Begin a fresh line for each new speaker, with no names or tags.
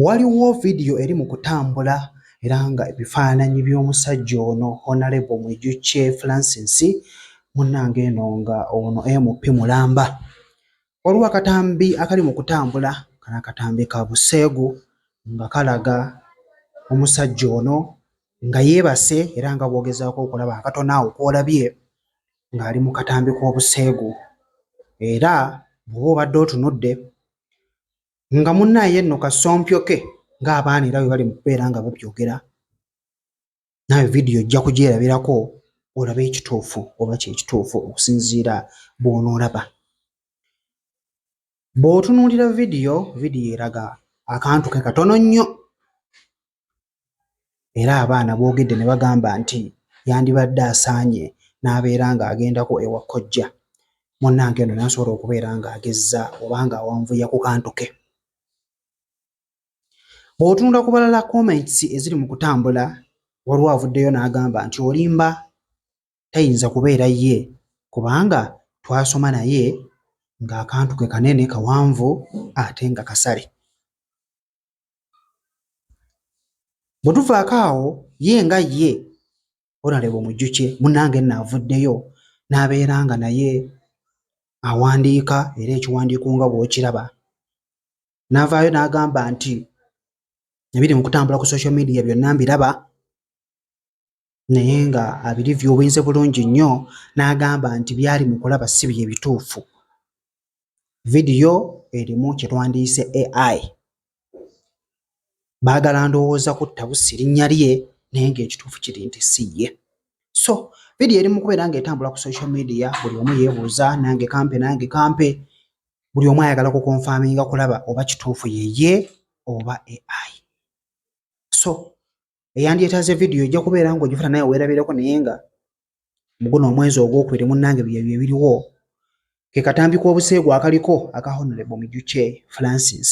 Waliwo vidiyo eri mu kutambula era nga ebifaananyi by'omusajja ono Honalebo Mwijukye Francis munnange eno nga ono MP mulamba. Waliwo akatambi akali mu kutambula kano akatambi ka buseegu nga kalaga omusajja ono nga yeebase era nga bw'ogezaako okulaba akatono awo k'olabye ng'ali mu katambi k'obuseegu era bw'oba obadde otunudde. nga munaaye nno kasompyoke ng'abaana era bwe bali mu kubeera nga babyogera naawe vidiyo ojja kugyerabirako olabe ekituufu oba kyekituufu okusinziira bw'onoolaba bw'otunuulira vidiyo vidiyo eraga akantu ke katono nnyo era abaana boogedde ne bagamba nti yandibadde asaanye n'abeera ng'agendako ewa kojja munnange eno nasobola okubeera ng'agezza oba ng'awanvuya ku kantu ke bw'otunula ku balala comments eziri mu kutambula waliwo avuddeyo n'agamba nti olimba tayinza kubeera ye kubanga twasoma naye ng'akantu ke kanene kawanvu ate nga kasale. bwe tuvaako awo ye nga ye onalebo mujjukye munnange nno avuddeyo n'abeera nga naye awandiika era ekiwandiiko nga bw'okiraba n'avaayo n'agamba nti ebiri mu kutambula ku social media byonna mbiraba naye nga abirivyuwinze bulungi nnyo n'agamba nti byali mu kulaba si bye bituufu. Vidiyo erimu kye twandiyise AI. Baagala ndowooza kutta Bussi linnya lye naye ng'ekituufu kiri nti si ye. So vidiyo eri mu kubeera ng'etambula ku social media buli omu yeebuuza nange kampe nange kampe buli omu ayagala kukonfaminga kulaba oba kituufu yeye oba AI. So eyandyetaze vidiyo ojja kubeera nga ogifuna naye weerabireko naye nga muguno omwezi ogwokubiri munnange byebyo ebiriwo ke katambi k'obuseegu akaliko aka honorable mijukye francis